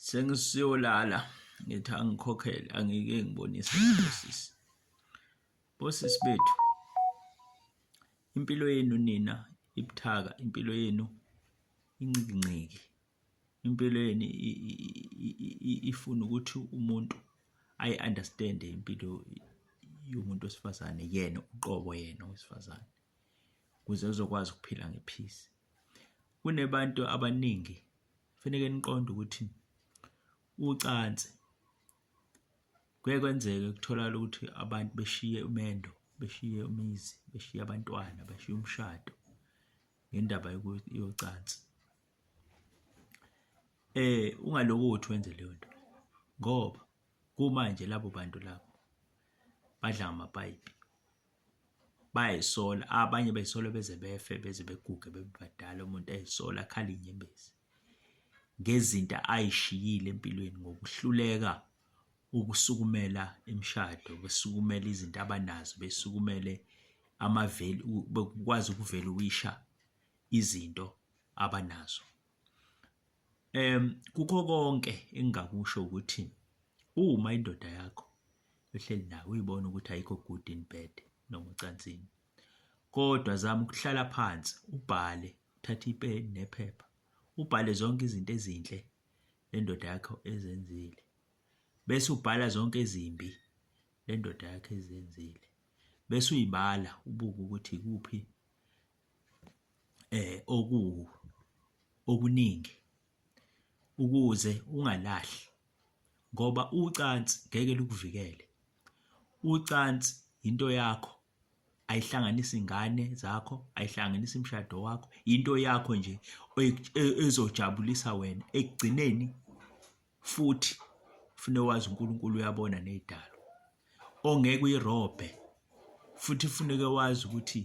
Sengisiyolala ngithi angikhokhele angike ngibonise bosisi, bosisi bethu impilo yenu nina ibuthaka, impilo yenu incikinciki, impilo yenu ifuna ukuthi umuntu ayi-understand-e impilo yomuntu wesifazane yena uqobo yena owesifazane. ukuze uzokwazi ukuphila ngephisi. Kunebantu abaningi kufaneke niqonde ukuthi ucansi kuye kwenzeke kutholakala ukuthi abantu beshiye umendo, beshiye umizi, beshiye abantwana, beshiye umshado ngendaba yocansi. Eh ungaloku uthi wenze leyo nto ngoba kumanje labo bantu labo badla ngamapayipi. bayayisola abanye bayisola beze befe beze beguge bebe badala umuntu ayisola akhala inyembezi ngezinto ayishiyile empilweni ngokuhluleka ukusukumela imishado besukumela izinto abanazo besukumele amaveli bekwazi ukuvela uwisha izinto abanazo em kukho konke engingakusho ukuthi uma indoda yakho uhleli nayo uyibona ukuthi ayikho good in bed noma ucansini kodwa zama ukuhlala phansi ubhale uthathe ipeni nephepha ubhale zonke izinto ezinhle lendoda yakho ezenzile bese ubhala zonke ezimbi lendoda yakho ezenzile bese uyibala ubuke ukuthi kuphi eh oku okuningi ukuze ungalahli ngoba ucansi ngeke lukuvikele. Ucansi yinto yakho ayihlanganisi ngane zakho, ayihlanganisi mshado wakho, yinto yakho nje ezojabulisa wena ekugcineni futhi fune wazi uNkulunkulu uyabona nezidalo ongeke uyirobhe futhi funeke wazi ukuthi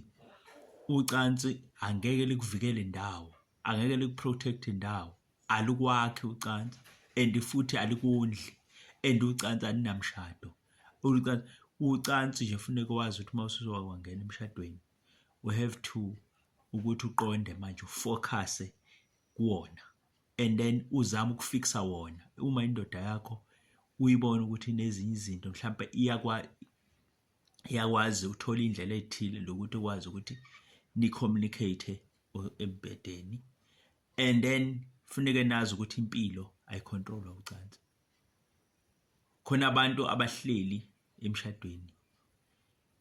ucansi angeke likuvikele ndawo angeke likuprotect ndawo alikwakhi ucansi and futhi alikondli and ucansi alinamshado ucansi ucansi nje funeka wazi ukuthi uma usuzoba kwangena emshadweni we have to ukuthi uqonde manje ufocuse kuwona and then uzama ukufixa wona uma indoda yakho uyibona ukuthi inezinye izinto mhlawumbe iyakwa iyakwazi uthola indlela ezithile lokuthi ukwazi ukuthi ni communicate embedeni and then funeke nazi ukuthi impilo ayicontrolwa ucansi khona abantu abahleli emshadweni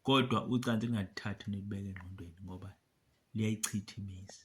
kodwa ucansi lingathathi nilibeke engqondweni ngoba liyayichitha imizi